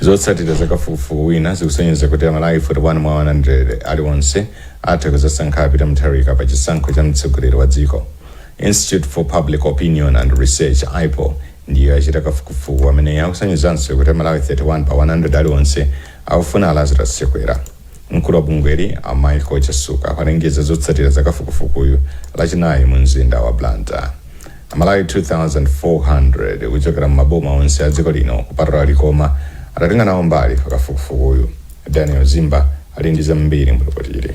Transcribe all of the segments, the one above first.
zotsatira zakafukufuku wina zikusonyeza kuti amalawi 41 mwa 100 aliwonse atha kuzasankha a peter mutharika pa chisankho cha mtsogoleri wa dziko institute for public opinion and research ipor ndiyo yachita kafukufuku amene akusonyezanso kuti amalawi 31 pa 100 aliwonse akufuna a lazarus chakwera Mkulu wa bungweli, a Michael Chasukwa, walengeza zotsatira za kafukufukuyu Lachinayi mu mzinda wa Blantyre. Amalawi 2,400 kuchokera m'maboma onse a dziko lino kupatula Likoma adatenga nawo mbali pa kafukufukuyu. Daniel Zimba ali ndi zambiri mu lipotili.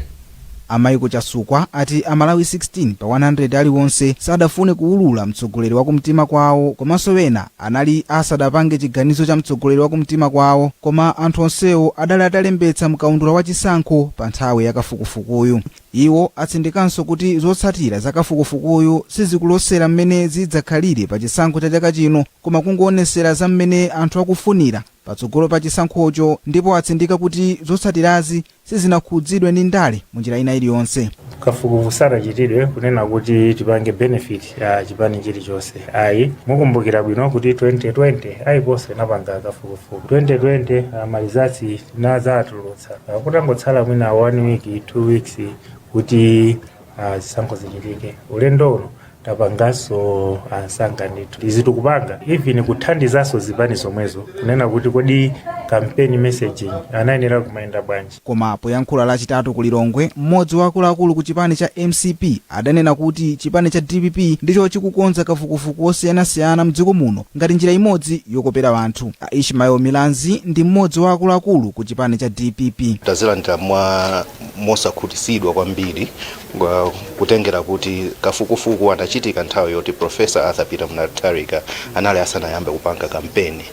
A Michael Chasukwa ati a Malawi 16 pa 100 aliwonse sadafune kuwulula mtsogoleri wa kumtima kwawo komanso ena anali asadapange chiganizo cha mtsogoleri wa kumtima kwawo koma anthu onsewo adali atalembetsa mkaundula wa chisankho pa nthawi ya kafukufukuyu. Iwo atsindikanso kuti zotsatira za kafukufukuyu sizikulosera mmene zidzakhalire pa chisankho cha chaka chino koma kungoonesera za mmene anthu akufunira patsogolo pa chisankhocho ndipo atsindika kuti zotsatirazi sizinakhudzidwe ndi ndale munjira ina iliyonse. kafukufuku sanachitidwe kunena kuti tipange benefit chipani chilichonse ayi mukumbukira bwino kuti 2020 ipor-nso inapanga kafukufuku 2020 ma results tinazatulutsa kutangotsala mwina one week two weeks kuti ah, zisankho zichitike ulendo uno tapanganso msanga ndithu izitu tikupanga even kuthandizanso zipani zomwezo kunena kuti kodi campaign messaging yawo iyenera kumayenda bwanji koma poyankhula lachitatu ku lilongwe mmodzi wa akuluakulu ku chipani cha mcp adanena kuti chipani cha dpp ndicho chikukonza kafukufuku wosiyanasiyana mdziko muno ngati njira imodzi yokopera anthu a ishmael milanzi ndi mmodzi wa akuluakulu ku chipani cha dpp tazilandira mosakhutisidwa kwambiri kutengera kuti kafukufuku anachitika nthawi yoti professor arthur peter mutharika anali asanayambe kupanga kampeni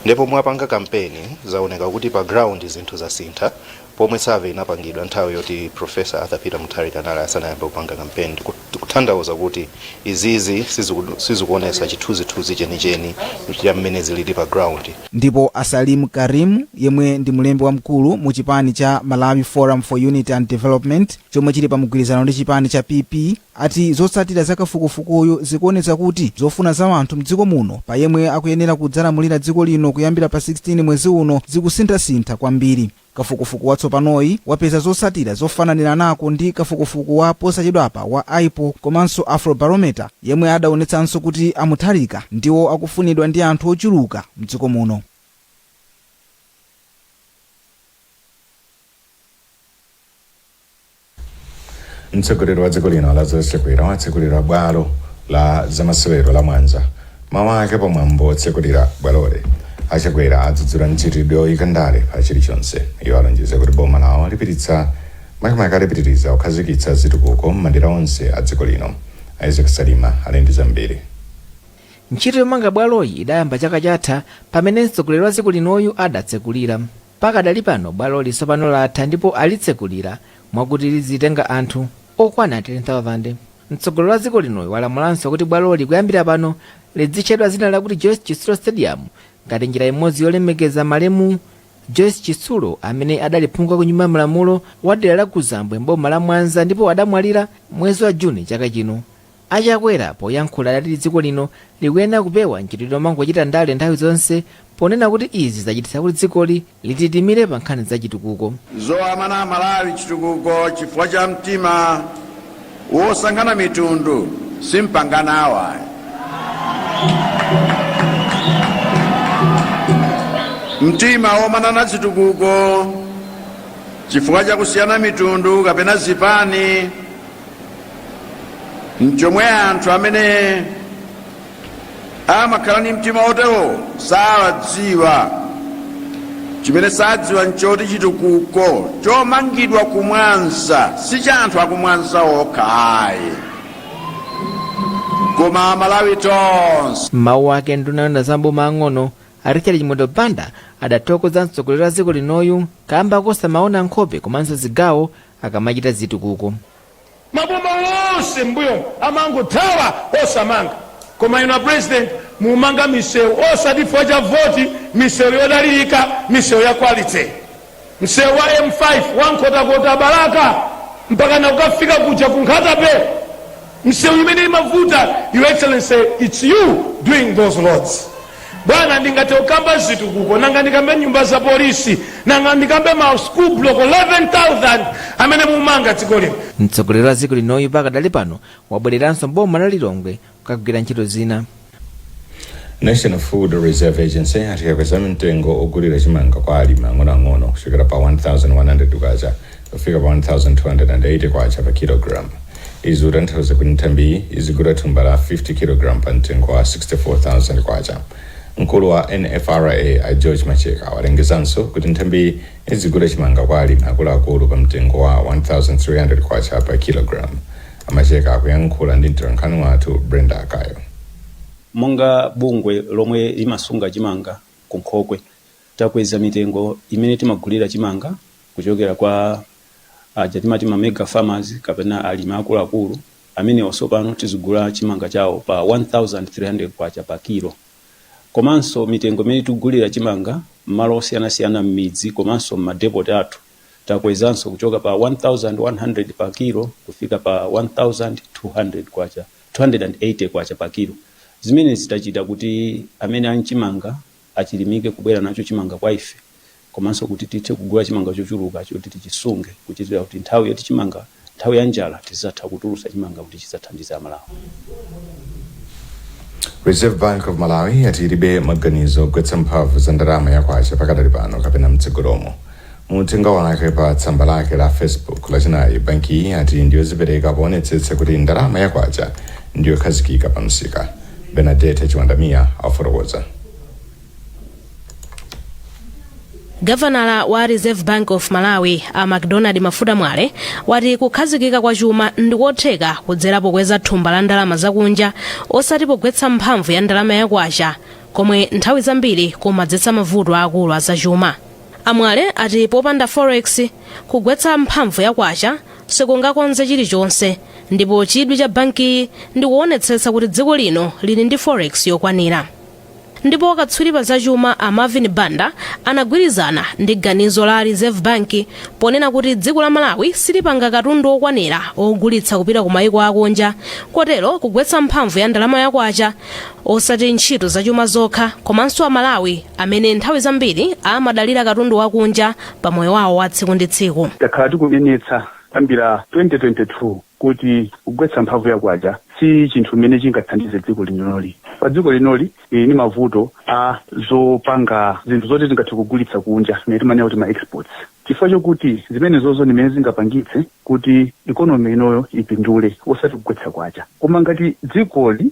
ndipo mwapanga kampeni zaoneka kuti pa ground zinthu zasintha pomwe survey inapangidwa nthawi yoti professor arthur peter mutharika anali asanayambe kupanga kampeni zikutanthauza kuti izizi siziku- sizikuonesa chithunzithunzi chenicheni cha mmene zilili pa ground ndipo a salim karim yemwe ndi mlembi wamkulu mu chipani cha malawi forum for unity and development chomwe chili pa mgwirizano ndi chipani cha PP, ati zotsatira za kafukufukuyu zikuonetsa kuti zofuna za anthu mdziko muno pa yemwe akuyenera kudzalamulira dziko lino kuyambira pa 16 mwezi uno zikusinthasintha kwambiri. Kafukufuku watsopanoyu wapeza zotsatira zofananiranako ndi kafukufuku wa posachedwapa wa IPOR komanso Afrobarometer yemwe adaonetsanso kuti a Mutharika ndiwo akufunidwa ndi anthu ochuluka mdziko muno. Mtsogoleri wa dziko lino Lazarus Chakwera watsekulira bwalo la zamasewero la Mwanza. M'mawu ake pa mwambo wotsekulira bwaloli, a Chakwera adzudzula mchitidwe woyika ndale pa chilichonse. Iwo alonjeza kuti boma lawo lipititsa makamaka lipitiriza kukhazikitsa zitukuko m'madera onse a dziko lino. Isaac Salima ali ndi zambiri. Ntchito yomanga bwaloyi idayamba chaka chatha pamene mtsogoleri wa dziko linoyu adatsekulira. Pakadali pano bwaloli tsopano latha ndipo alitsekulira mwakuti lidzitenga anthu okwana 10,000. Mtsogoleri wa dziko linoyu walamulanso kuti bwaloli kuyambira pano lidzitchedwa dzina lakuti Joyce Chitsulo Stadium ngati njira imodzi yolemekeza malemu Joyce Chitsulo amene adali phungu wa ku Nyumba ya Malamulo wa dera la Kuzambwe m'boma la Mwanza ndipo adamwalira mwezi wa June chaka chino. A Chakwera poyankhula adati dziko lino likuyenera kupewa mchitidwe omangochita ndale nthawi zonse ponena kuti izi zachititsa kuti dzikoli lititimire pa nkhani za chitukuko. Zowamana aMalawi chitukuko chifukwa cha mtima wosankhana mitundu simpanga nawo ayi. Mtima womanana zitukuko chifukwa cha kusiyana mitundu kapena zipani, nchomwe anthu amene amakhala ndi mtima otewo sawadziwa chimene sadziwa nchoti chitukuko chomangidwa kumwanza si cha anthu akumwanza okha ayi koma amalawi tonse m'mawu ake nduna yoona za maboma ang'ono a richard chimwendo banda adathokoza mtsogoleri wa dziko linoyu kaamba kosamaona nkhope komanso zigawo akamachita zitukuko. Maboma onse m'mbuyomu amangothawa osamanga koma inu a president mukumanga misewu osati chifukwa cha voti, misewu yodalilika, misewu ya quality. Msewu wa M5 wa Nkhotakota-Balaka mpakana kukafika kuja ku Nkhata-bay. misewu imene imavuta your excellency its you doing those roads bwana ndingathe kukamba zitukuko nanga ndikambe nyumba za polisi nanga ndikambe ma school block 11000 amene mukumanga dziko lino mtsogoleri wa dziko linoyu pakadali pano wabwereranso mboma la lilongwe kukagwira ntchito zina National Food Reserve Agency yati yakweza mtengo ogulira chimanga kwa alimi ang'onoang'ono kuchokera pa 1100 kwacha kufika pa 1280 kwacha pa kilogram izi zikutanthauza kuti nthambiyi izigula thumba la 50 kilogram pa mtengo wa 64000 kwacha mkulu wa nfra a george macheka walengezanso kuti nthambiyi izigula chimanga kwa alimi akuluakulu pa mtengo wa 1300 kwacha pa kilogram Amacheka akuyankhula ndi mtolankhani wathu Brenda Akayo. Monga bungwe lomwe limasunga chimanga ku nkhokwe, takweza mitengo imene timagulira chimanga kuchokera kwa aja timati ma mega farmers kapena alimi akuluakulu. Amenewa tsopano tizigula chimanga chawo pa K1300 pa kilo. Komanso mitengo imene tikugulira chimanga m'malo osiyanasiyana m'midzi komanso m'madepoti athu, takwezanso kuchoka pa 1100 pa kilo kufika pa 1200 kwacha 280 kwacha pa kilo zimene zitachita kuti amene ali chimanga achilimike kubwera nacho chimanga kwa ife komanso kuti tithe kugula chimanga chochuluka choti tichisunge kuchitira kuti nthawi yoti chimanga nthawi ya njala tizatha kutulusa chimanga kuti chizathandize a Malawi. Reserve Bank of Malawi yati ilibe maganizo ogwetsa mphamvu za ndalama ya kwacha pakadali pano kapena mtsogolomo. Mu uthenga wake pa tsamba lake la Facebook lachinayi, bankiyi yati ndiyozipereka poonetsetsa kuti ndalama ya kwacha ndiyokhazikika pa msika. Bernadette Chiwandamiya afotokoza. gavanala wa reserve bank of malawi a macdonald mafuta mwale wati kukhazikika kwa chuma ndikotheka kudzera pokweza thumba la ndalama zakunja osati pogwetsa mphamvu ya ndalama ya kwacha komwe nthawi zambiri kumadzetsa mavuto aakulu azachuma amwale ati popanda forex kugwetsa mphamvu ya kwacha sikungakonze chilichonse ndipo chidwi cha bankiyi ndikuonetsetsa kuti dziko lino lili ndi forex yokwanira Ndipo katswiri pa zachuma a Marvin Banda anagwirizana ndi ganizo la Reserve Bank ponena kuti dziko la Malawi silipanga katundu wokwanira wogulitsa kupita ku maiko akunja kotero kugwetsa mphamvu ya ndalama ya kwacha osati ntchito zachuma zokha komanso a Malawi amene nthawi zambiri amadalira katundu wakunja pa moyo wawo wa tsiku ndi tsiku. Takhala tikunenetsa kuyambira 2022. kuti kugwetsa mphamvu ya kwacha si chinthu chimene chingathandize dziko linoli. Pa dziko linoli lili ndi mavuto a zopanga zinthu zoti tingathe kugulitsa kunja, zimene timanena kuti ma exports, chifukwa chokuti zimenezozo ndi zimene zingapangitse kuti economy inoyo ipindule osati kugwetsa kwacha. Koma ngati dzikoli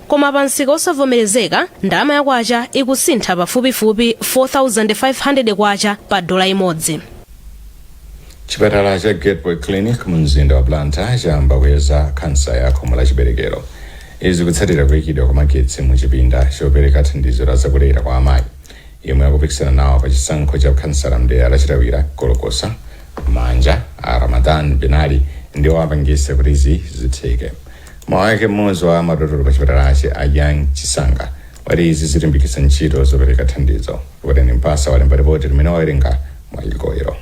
koma pa msika osavomerezeka ndalama ya kwacha ikusintha pafupifupi 4500 kwacha pa dola imodzi chipatala cha gateway clinic mu mzinda wa blantyre chayamba kuyeza khansa ya khomo la chiberekero izi kutsatira kuyikidwa kwa magetsi mu chipinda chopereka thandizo la zakulera kwa amayi yemwe akupikisana nawo pa chisankho cha khansala mdera la chitawira golokosa manja a ramadan binali ndiwo apangisa kuti izi zitheke mawu ake mmodzi wa madotolo pa chipatalachi a young chisanga wati izi zilimbikitsa ntchito zopereka thandizo Tiwutani Mpasa walemba ripoti limene wawerenga mwa igoyero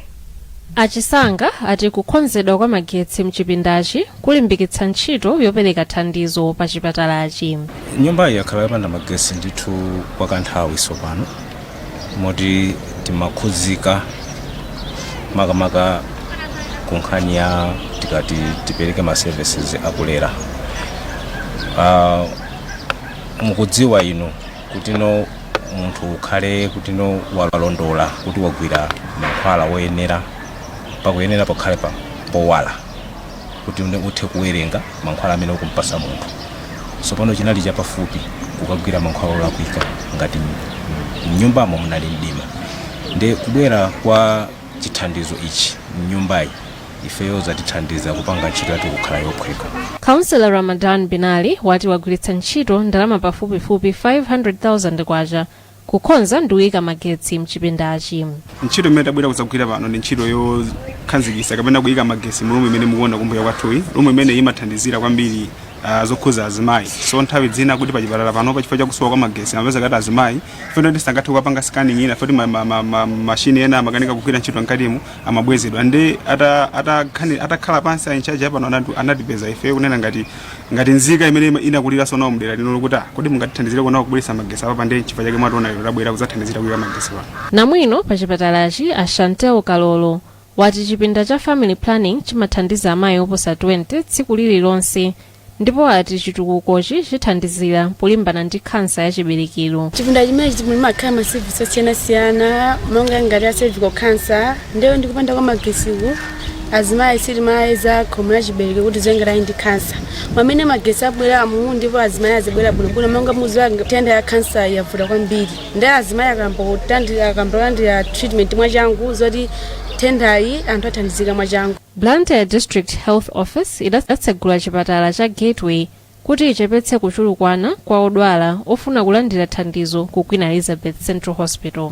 achisanga ati kukonzedwa kwa magetsi mchipindachi kulimbikitsa ntchito yopereka thandizo pa chipatalachi nyumbayi yakhala yopanda magesi ndithu kwa kanthawi tsopano moti timakhudzika makamaka ku nkhani ya tikati tipereke ma services akulera uh, mukudziwa inu kutino munthu ukhale kutino walondola kuti wagwira mankhwala woyenera pakuyenera pakhale powala kuti uone uthe kuwerenga mankhwala amene ukumpasa munthu tsopano chinali chapafupi kukagwira mankhwala olakwika ngati m- mnyumbamo munali mdima ndi kubwera kwa chithandizo ichi mnyumbayi ifeyo zatithandiza kupanga ntchito yathu kukhala yophweka Councillor Ramadan Binali wati wagwiritsa ntchito ndalama pafupifupi 500,000 kwacha Kukonza ndi kuika magetsi m'chipindachi. Ntchito imene tabwera kudzagwira pano ndi ntchito yokhazikisa kapena kuika magesi mu room imene mukuona kumbuyo kwathuyi. Room imene imathandizira kwambiri uh, zokhuza azimayi. So nthawi zina kuti pa chipatala pano pa chifukwa cha kusowa kwa magesi amapezeka kuti azimayi fena ndi sangathe kukapanga scanning ina futi ma, ma, ma, ma, mashini ena amakanika kugwira ntchito mkatimu amabwezedwa nde atakhala ata, ata atakhala pansi a in charge a pano anatipeza ife kunena ngati Ngati nzika imene inakuliranso nawo mdera lino lokuti ah kodi mungatithandizireko nawo kubweretsa magesi apapa nde nchifukwa chake mwationa lero tabwera kudzathandizira kuyika magesi pano. Namwino pa chipatalachi a Shantel Kalolo wati chipinda cha Family Planning chimathandiza amayi oposa 20 tsiku lililonse ndipo ati chitukukochi chithandizira polimbana ndi khansa ya chiberekero. Chipinda chimenechi mumakhala ma service osiyanasiyana monga ngati a cervical cancer, Ndeye ndi kupanda kwa magesiku azimayi sitimayeza khomo la chiberekero kuti zengerayi ndi khansa mmene magesi abweramu ndipo azimayi azibwera bwinobwino monga muziwa nthenda ya khansayi yavuta kwambiri nde azimayi akamba kutandira akamba kulandira treatment mwachangu zoti nthendayi anthu athandizika mwachangu Blantyre District Health Office idatsegula chipatala cha Gateway Kuti ichepetse kuchulukana kwa odwala ofuna kulandira thandizo ku Queen Elizabeth Central Hospital.